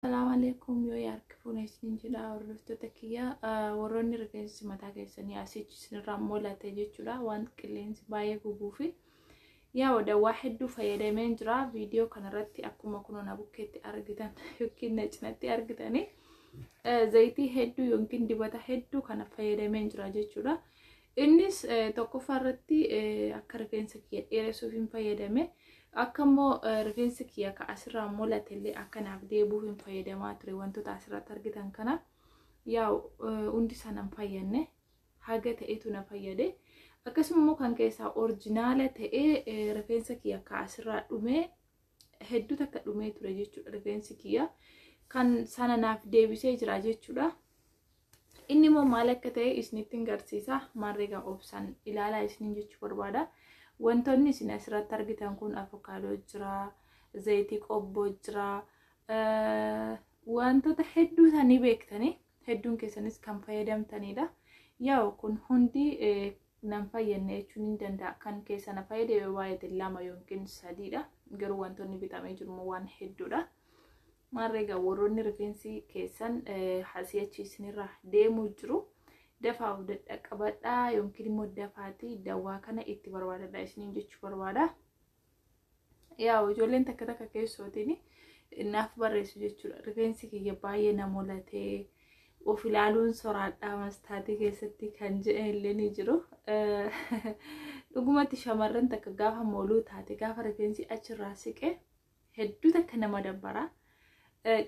Salaamu alaikum yoo yaarki fuune isin jedha hordoftoota kiyya warroonni rifeensi mataa keessanii asichi isinirraa mul'ate jechuudha waan qilleensi baay'ee gubuufi yaa wada waa hedduu fayyadameen jira viidiyoo kanarratti akkuma kunoo na bukkeetti argitan yookiin na cinatti argitanii zayitii hedduu yookiin dibata hedduu kana fayyadameen jira jechuudha Innis tokkoffaa irratti akka rifeensa kiyya dheeressuuf hin fayyadame. Akka immoo rifeensa kiyya ka asirraa mul'ate illee akka naaf deebi'uuf hin fayyadamaa ture wantoota asirratti argitan kana. Yaa hundi isaa nan fayyadne haga ta'etu na fayyade. Akkasuma immoo kan keessaa orjinaala ta'ee rifeensa kiyya ka asirraa dhumee hedduu takka dhumee ture jechuudha rifeensi kiyya. Kan sana naaf deebisee jira jechuudha. Inni immoo maal akka ta'e isinitti hin garsiisa. Maarreegaa obsan ilaalaa isiniin jechuu barbaada. Wantoonni isin asirratti argitan kun avokaadoo jira, zayitii qobboo jira, wantoota hedduu isaanii beektanii hedduun keessanis kan fayyadamtanidha. Yaa'u kun hundi nan fayyadne jechuun hin danda'a. Kan keessa na fayyade yoo baay'ate lama yookiin sadiidha. Garuu wantoonni bitamee jiru waan hedduudha. Maarree egaa warroonni rifeensi keessan si'achi isinirra deemuu jiru dafaa of dadhaqqabadha yookiin immoo dafaati dawaa kana itti barbaadadha isiniin jechuu barbaada. Yaa ijoolleen takka takka keessootiin naaf barreessu jechuudha. Rifeensi kiyya baay'ee na mulatee of ilaaluun soraadhaa mastaatii keessatti kan jedhan illee ni jiru. Dhugumatti shamarran takka gaafa mooluu taate gaafa rifeensi achirraa siqee hedduu takka nama dabbara.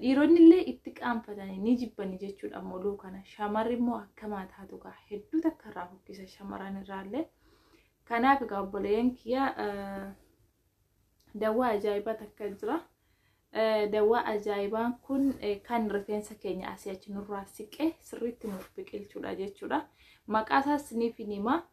Dhiironni illee itti qaanfatanii ni jibbani jechuudha moluu kana. Shamarri immoo akkamaa taatu kaa hedduu takka irraa fokkisa shamarran irraallee. Kanaaf egaa obboleeyyan kiyya dawwaa ajaa'ibaa takka jira. Dawwaa ajaa'ibaan kun kan rifeensa keenya asii achi nurraa siqee sirriitti nuuf biqilchuudha jechuudha. Maqaa isaas isiniif hima.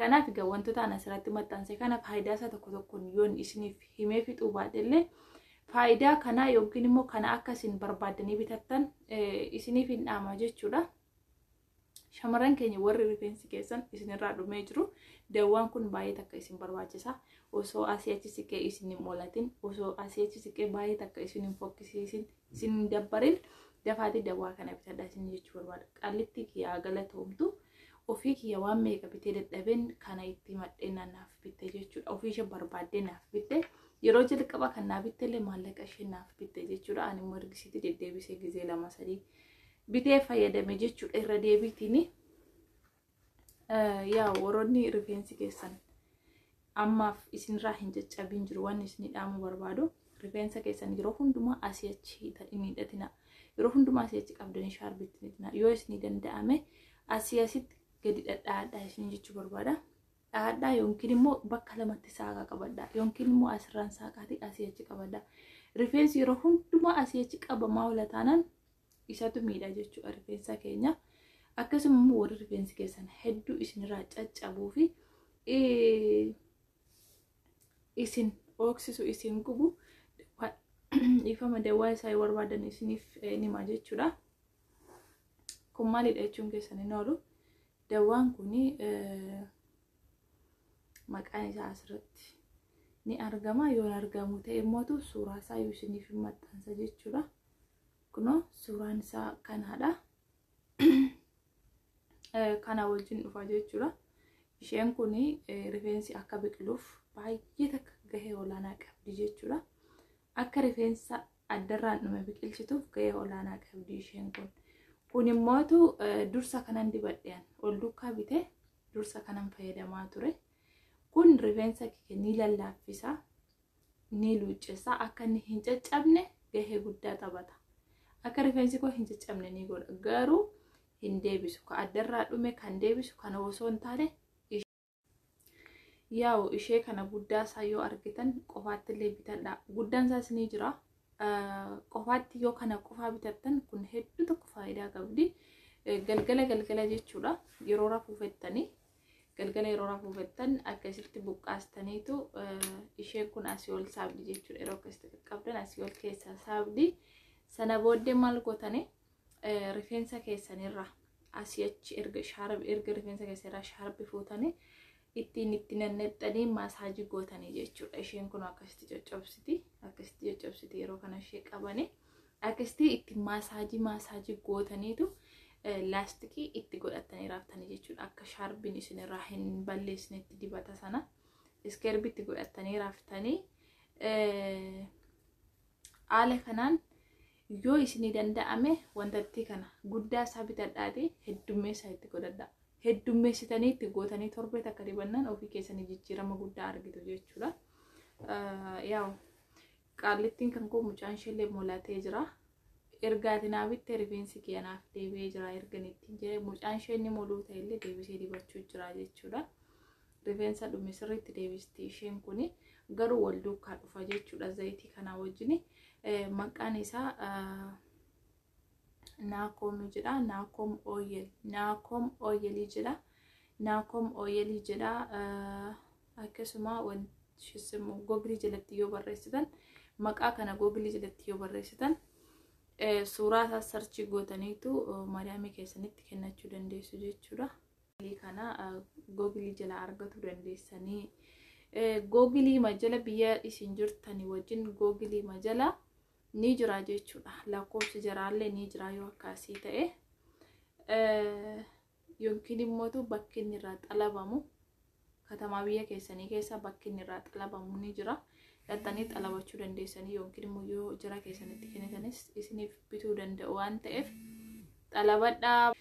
Kanaaf egaa wantoota ani asirratti maxxanse kana faayidaa isaa tokko tokkoon yoon isiniif himee fixuu baadhe illee faayidaa kanaa yookiin immoo kana akka isin barbaaddanii bitattan isiniif hin dhaama jechuudha. Shamarran keenya warri rifeensi keessan isinirraa dhumee jiru dawwaan kun baay'ee takka isin barbaachisa. Osoo asii achi siqee isin hin moolatin, osoo asii achi siqee baay'ee takka isin hin fokkisiisin, isin hin dabbarin dafaatii dawwaa kana bitadhaa isin jechuu barbaada. Qallitti kiyyaa galatoomtu Ofii kiyya waan meeqa bitee dadhabeen kana itti himadhee na- naaf bitte jechuudha. Ofii ishee barbaaddee naaf bitte. Yeroo jalqaba kan naa bitte illee maallaqa ishee naaf bitte jechuudha. Ani immoo ergisiitti deddeebisee gizee lama sadii bitee fayyadame jechuudha irra deebiitiin. Eh, Yaa warroonni rifeensi keessan ammaaf isinirraa hin caccabiin jiru waan isinii dhaamuu barbaadu rifeensa keessan yeroo hundumaa asii achi hin hidhatina yeroo hundumaa asii achi qabdanii shaarbitti hin hidhatina yoo isinii danda'ame asii asitti gadi dhadhaadhaa isin jechuu barbaada dhaadhaa yookiin immoo bakka lamatti saaqaa qabadha yookiin immoo asirraan saaqaatii asii achi qabadha rifeensi yeroo hundumaa asii achi qabamaa ola taanaan isatu miidha jechuudha rifeensa keenya akkasuma immoo warri rifeensi keessan hedduu isinirraa caccabuu fi isin ooksisu isin gubu dhiifama dawaa isaa yoo barbaadan isiniif nima jechuudha kun maalidha jechuun keessan hin oolu dawaan kun maqaan isaa asirratti ni argama yoo hin argamu ta'e immoo suuraa isaa yoo isiniif hin maxxansa jechuudha. Kunoo suuraan isaa kanaadha. Kana wajjin dhufa jechuudha. Isheen kun rifeensi akka biqiluuf baay'ee takka gahee olaanaa qabdi jechuudha. Akka rifeensa addarraan dhume biqilchituuf gahee olaanaa qabdi isheen kun. Kun immootu dursa kanan dibadheen ol duukaa bitee dursa kanan fayyadamaa ture. Kun rifeensa kee ni lallaaffisa. ni luuccessa akka inni hin caccabne gahee guddaa taphata akka rifeensi koo hin caccabne ni godha garuu hin deebisu ka addarraa dhume kan deebisu kana osoo hin taane yaa'u ishee kana guddaa isaa yoo argitan qofaatti illee bitadha guddaan isaas ni jira qofaatti yoo kana qofaa bitattan kun hedduu tokko faayidaa qabdi galgala galgala jechuudha yeroo rafuu fettanii galgala yeroo rafuu fettan akka isitti buqqaastaniitu isheen kun asii ol saabdi jechuudha yeroo akka isitti qaqqabdan asii ol keessaa saabdi sana booddee maal gootanii rifeensa keessanirra asii achi erga shaarbi erga rifeensa keessanirra shaarbi fuutanii ittiin itti nannexxanii maasaajii gootanii jechuudha isheen kun akkasitti coccobsiti akkasitti coccobsiti yeroo kana ishee qabanii Akkasitti itti maasaajii maasaajii gootaniitu laastikii itti godhattanii raaftanii jechuudha. Akka shaarbiin isinirraa hin balleessinetti dibata sana iskeerbii itti godhattanii raaftanii haala kanaan yoo isinii danda'ame wantattii kana guddaa isaa bitadhaati heddummeessaa itti godhadha. Heddummeessitanii itti gootanii torbee takka dibannaan ofii keessanii jijjiirama guddaa argitu jechuudha. Yaa'u Qaallittiin kan koo mucaan isheellee molatee jira. Erga ati naa bittee rifeensi kee anaaf deebi'ee jira erga ittiin jedhee mucaan ishee inni moluu ta'ellee deebisee dibachuu jira jechuudha. Rifeensa dhume sirriitti deebisti isheen kun garuu wal duukaa dhufa jechuudha zayitii kanaa wajjin. Maqaan isaa naakoom jedha naakoom ooyel naakoom ooyelii jedha naakoom ooyelii jedha akkasuma googilii jalatti yoo barreessitan maqaa kana googilii jalatti yoo barreessitan suuraa isaa sarchii gootaniitu maadaamii keessanitti kennachuu dandeessu jechuudha. kana googilii jala argatu dandeessanii googilii majala biyya isin jirtanii wajjin googilii majala ni jira jechuudha lakkoofsi jaraallee ni jira yoo akkaasii ta'e yookiin immoo bakki inni irraa xalabamu Katamaa biyya keessanii keessa bakki inni irraa xalabamu ni jira. Dhaxxanii xalabachuu dandeessanii yookiin immoo yoo jara keessanitti kennitanis isiniif bituu danda'u waan ta'eef xalabadhaa.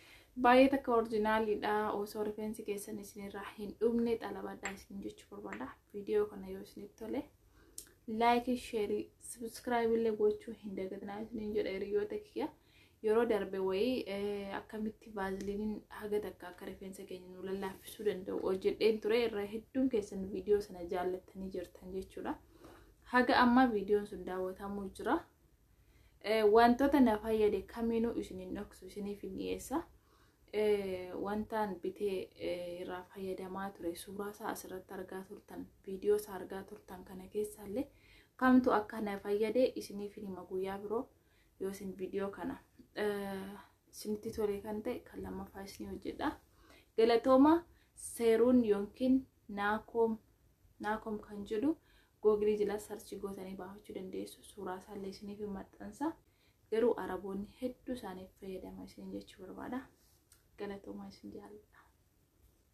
Baay'ee takka orjinaaliidha. Osoo rifeensi keessan isinirraa hin dhumne xalabadhaa isin jechuu barbaada. Viidiyoo kana yoo isinitti tole laayikii, sheerii, sabiskiraaybii illee gochuu hin dagatinaa isiniin jedha hiriyoota kiyya. Yeroo darbe wayii akkamitti vaaziliiniin haga takka akka rifeensa keenya nu lallaaffisuu danda'u hojjedheen ture irra hedduun keessan viidiyoo sana jaallattanii jirtan jechuudha. Haga ammaa viidiyoon sun daawwatamuu jira. Wantoota na fayyade kamiinuu isin hin dhoksu isiniif hin dhiyeessa. Wantaan bitee irraa fayyadamaa ture suuraa isaa asirratti argaa turtan viidiyoo isaa argaa turtan kana keessaallee kamtu akka na fayyade isiniif hin hima guyyaa biroo. yoo isin viidiyoo kana isinitti tole kan ta'e kan lammaffaa isin hojjedha galatooma seeruun yookiin naakoom naakoom kan jedhu googilii jala sarchi gootanii baafachuu dandeessu suuraa isaallee isiniif maxxansa garuu araboonni hedduu isaaniif fayyadama isin jechuu barbaada galatoomaa isin jaalladha.